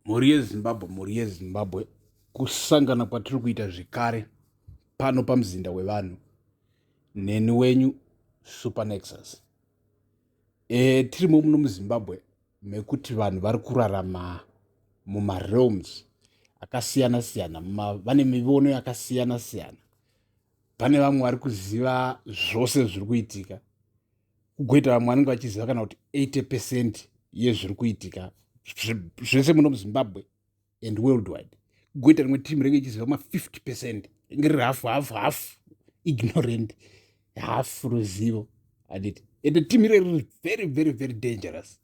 Mhuri yeZimbabwe, mhuri yeZimbabwe, kusangana kwatiri kuita zvekare pano pamuzinda wevanhu neni wenyu Supernexus. E, tirimo muno muZimbabwe mekuti vanhu vari kurarama mumarealms akasiyana siyana, vane mivono yakasiyana siyana. Pane vamwe vari kuziva zvose zviri kuitika kugoita vamwe vanenge vachiziva kana kuti 80 percent yezviri kuitika zvese muno muzimbabwe and world wide kugoita rimwe team renge ichiziva ma50 percent renge riri hafu hafu hafu ignorant hafu ruzivo anditi ende team iro riri very very very dangerous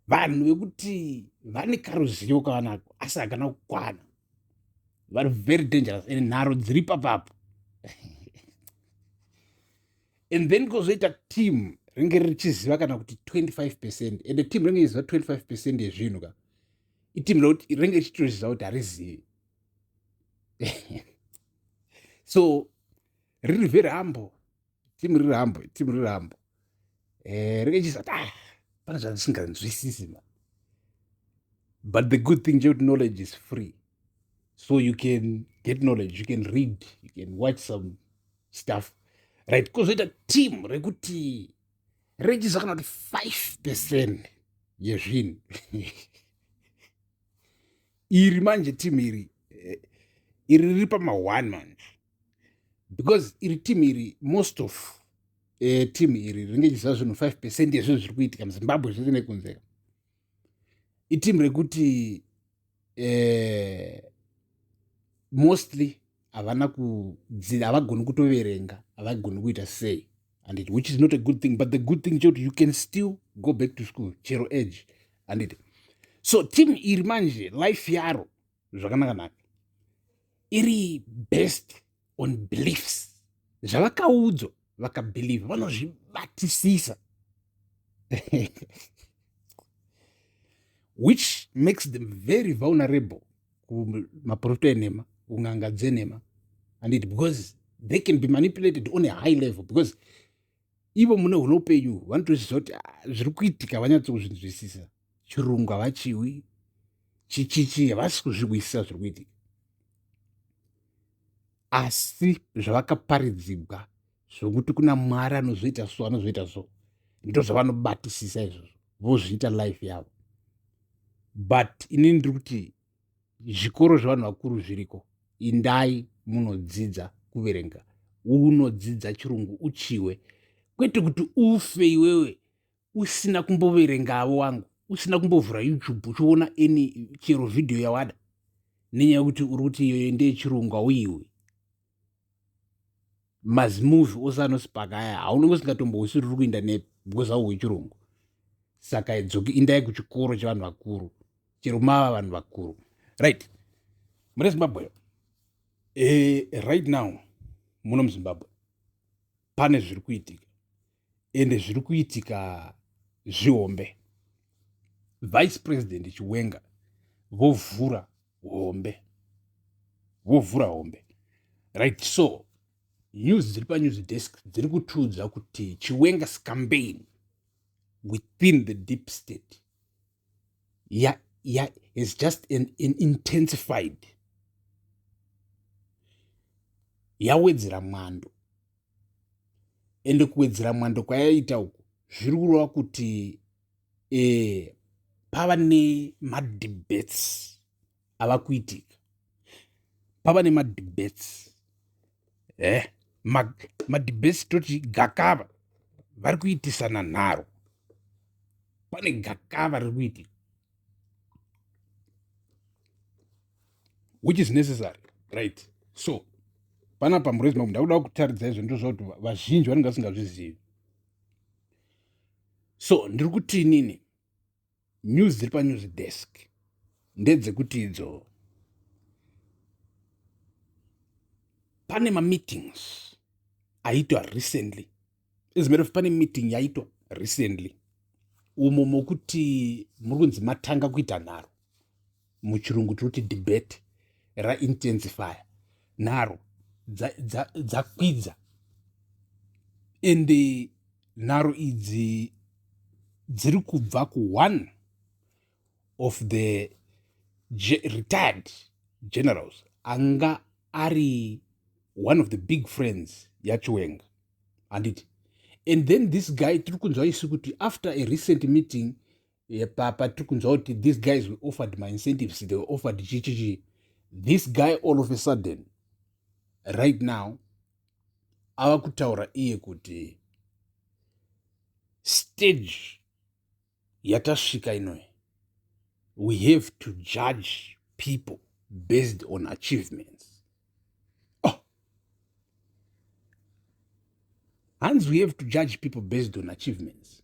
vanhu vekuti vane karuzivo kavanako asi hakana kukwana vari very dangerous and nharo dziri papapo and then kozoita team ringe richiziva kana kuti 25 percent ende team ringe richiziva 25 percent yezvinhu ka iteam rekuti ringe richitoziva kuti harizivi so riri verambo timu riri rambo timu riri rambo eh, rekechizati ah, pane zvandisinganzwisisi ma but the good thing chekuti knowledge is free so you can get knowledge you can read you can watch some stuff right kozoita team rekuti rechizwa kana kuti five percent yezvinhu iri manje team iri eh, iri riri pama one manje because iri team iri most of eh, team iri rinenge chiziva zvinhu 5 percent yezvinhu zviri kuitika muzimbabwe zvese nekunze iteam rekuti eh, mostly havana kudzida havagoni kutoverenga havagoni kuita sei and it which is not a good thing but the good thing chekuti you can still go back to school chero age and it so team iri manje life yaro zvakanaka naka iri based on beliefs zvavakaudzwa vakabhilivha vanozvibatisisa which makes them very vulnerable kumaprofita enhema kun'anga dzenhema and it because they can be manipulated on a high level because ivo mune hune upenyu vanotozviziva kuti ah, zviri kuitika vanyatso kuzvinzwisisa chirungu havachiwi chichichi havasi kuzvihwisisa zviri kuitika asi zvavakaparidzigwa zvokuti kuna mwari anozviita so anozviita so ndozvavanobatisisa izvozvo vozviita life yavo but ini ndiri kuti zvikoro zvevanhu vakuru zviriko indai munodzidza kuverenga unodzidza chirungu uchiwe kwete kuti ufe iwewe usina kumboverenga avo wangu usina kumbovhura youtube uchiona any chero vhidhiyo yawada nenyaya yekuti uri kuti iyoyo ndeyechirungu hauyiwi mazimovhi ose anosipaka aya haunenge usingatombousi riri kuinda nepi because hauhu wechirungu saka dzoki indai kuchikoro chevanhu vakuru chero mava vanhu vakuru right mune zimbabwe e, right now muno muzimbabwe pane zviri kuitika ende zviri kuitika zvihombe vice president chiwenga vovhura hombe vovhura hombe right so news dziri panews desk dziri kutiudza kuti chiwenga scambain within the deep state ya, ya has just an, an intensified yawedzera mwando ende kuwedzera mwando kwayaita uku zviri kureva kuti e, pava nemadebates ava kuitika pava nemadebets e eh, madebets toti gakava vari kuitisana nharo pane gakava riri kuitika which is necessary right so pana pamurezima kuti ndakuda kutaridza izvo ndo zvakuti vazhinji vanenge vasingazvizivi so ndiri kuti inini News dziri panews desk ndedzekuti idzo pane mameetings aitwa recently as matter of pane meeting yaitwa recently umo mokuti muri kunzi matanga kuita nharo muchirungu tinoti debate raintensifya nharo dzakwidza ende nharo idzi dziri kubva kuone of the retired generals anga ari one of the big friends yachiwenga handiti and then this guy tiri kunzwa isu kuti after a recent meeting epapa tiri kunzwa kuti these guys were offered my incentives they were offered chichichi this guy all of a sudden right now ava kutaura iye kuti stage yatasvika inoyi we have to judge people based on achievements hanzi we have to judge people based on achievements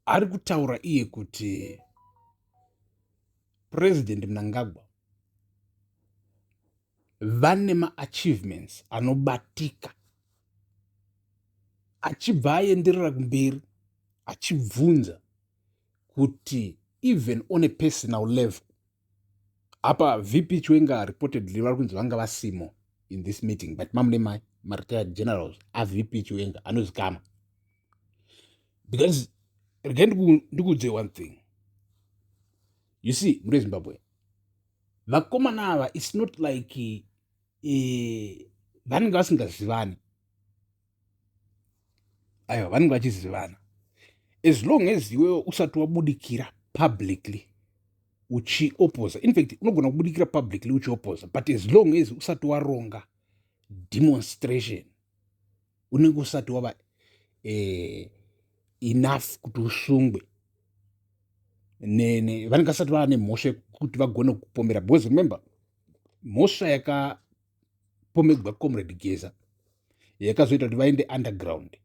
ari kutaura iye kuti president mnangagwa vane maachievements anobatika achibva aenderera kumberi achibvunza kuti even on a personal level apa vp chiwenga reportedly vari kunzi vanga vasimo in this meeting but mamune mai maretired generals avp chiwenga anozikama because rega ndikuudze one thing you see mune zimbabwe vakomana ava its not like eh, vanenge vasingazivani aiwa vanenge vachizivana as long as iwewe usati wabudikira publicly uchiopoza infact unogona kubudikira publicly uchiopoza but as long as usati waronga demonstration unenge usati wava eh, enough kuti usungwe vanenge vasati vava nemhosva yekuti vagone kupombera because remember mhosva yaka pomegwa comrade geza yakazoita kuti vaende underground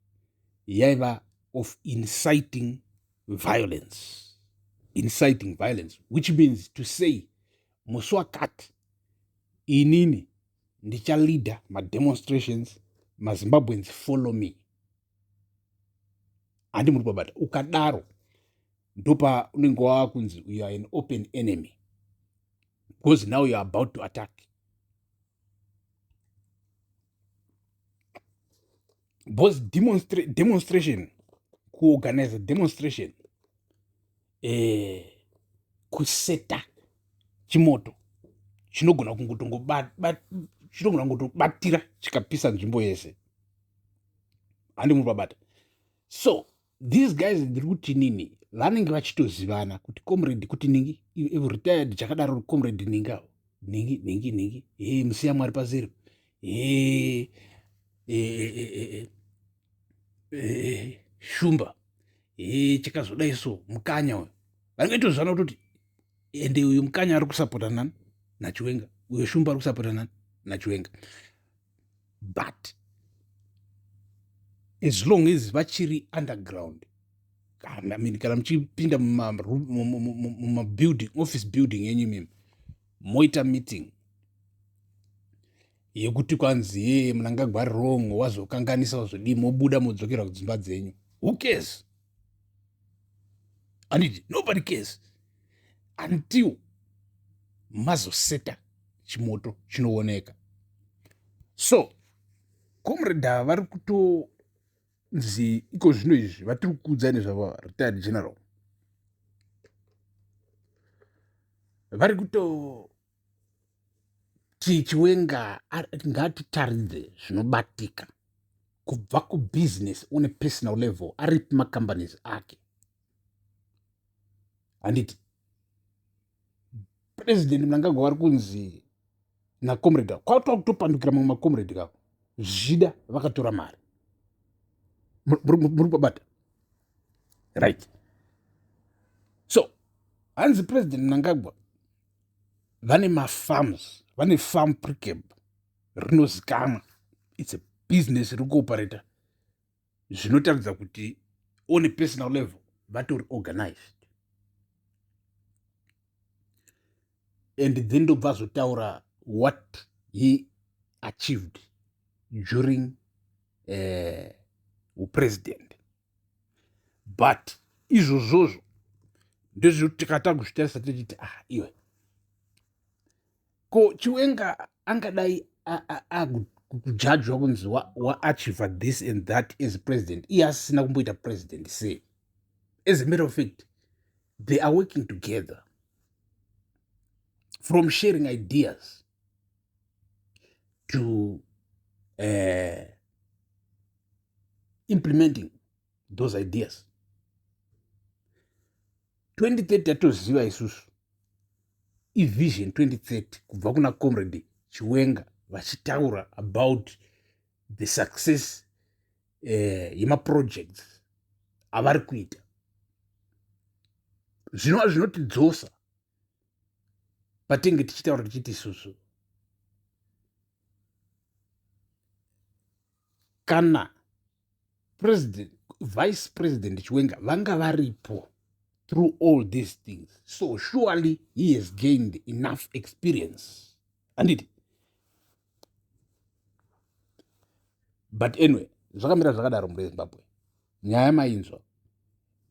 yaiva of inciting violence inciting violence which means to say musi wakati inini ndichaleader mademonstrations mazimbabweans follow me handi muri kubabata ukadaro ndopa unenge wava kunzi uyo an open enemy because now you're about to attack because demonstra demonstration kuorganize demonstration eh, kuseta chimoto chinogona kungotongobatira kungo chikapisa nzvimbo yese handi muri babata so these guys ndiri kuti nini vanenge vachitozivana kuti comrade kuti ningi ivo retired chakadaro comrade ningi avo ningi ningi ningi e musiya mwari pazero e shumba e chakazodai so mukanya uyo vanenge vachitozivana kutoti ende uyu mukanya ari kusapota nani nachiwenga uyo shumba ari kusapota nani nachiwenga but as long as vachiri underground kana mini kana muchipinda mumabuilding office building yenyu mimi moita meeting yekuti kwanzi yee munangagwari wrong wazokanganisa wazodii mobuda modzokerwa kudzimba dzenyu who cares handiti nobody cares until mazoseta chimoto chinooneka so comreda vari kuto nzi iko zvino izvi vatiri kuudza nezvava retired general vari kutoona tichiwenga ngatitaridze zvinobatika kubva kubusiness on a personal level aripi macompanies ake handiti president mnangagwa vari kunzi nacomrade avo kwatova kutopandukira mamwe macomrade avo zvida vakatora mari muri kubata right so hanzi president mnangagwa vane mafarms vane farm precab rinozikamwa its a business iri kuoperata zvinotaridza kuti one personal level vatori organized and then ndobva azotaura what he achieved during uh, upresident but izvozvozvo ndezvekuti tikata kuzvitarisa tichiti a ah, iwe ko chiwenga angadai akujajwa kunzi waachiva this and that as president iye asisina kumboita president sei as a matter of fact they are working together from sharing ideas to uh, implementing those ideas 2030 tatoziva isusu ivision 2030 kubva kuna comrade chiwenga vachitaura about the success uh, yemaprojects avari kuita zvinova zvinotidzosa patinge tichitaura tichiti isusu kana president vice president chiwenga vanga varipo through all these things so surely he has gained enough experience handiti but anyway zvakamira zvakadaro mhuri yezimbabwe nyaya mainzwa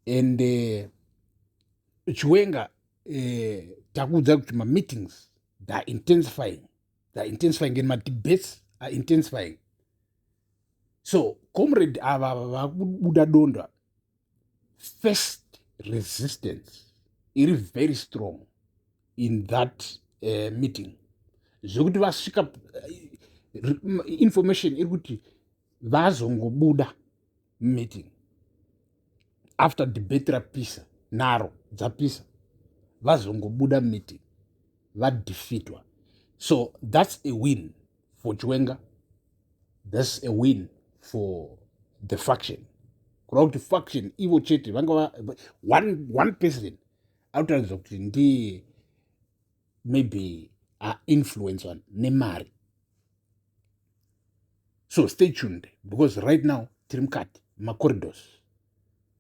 and eh, chiwenga eh, takuudza kuti mameetings theyare intensifying theyare intensifying and madebates are intensifying so comrade ava vakubuda donda first resistance iri very strong in that uh, meeting zvekuti vasvika uh, information iri kuti vazongobuda meeting after debate rapisa naro dzapisa vazongobuda meeting vadefeatwa so that's a win for chiwenga thats a win for the faction kureva kuti faction ivo chete vangava one, one person anotaridza kuti ndiye maybe ainfluencwa nemari so stay tuned because right now tiri mukati macorridors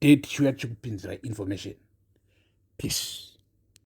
date chiuya chikupinzira information peace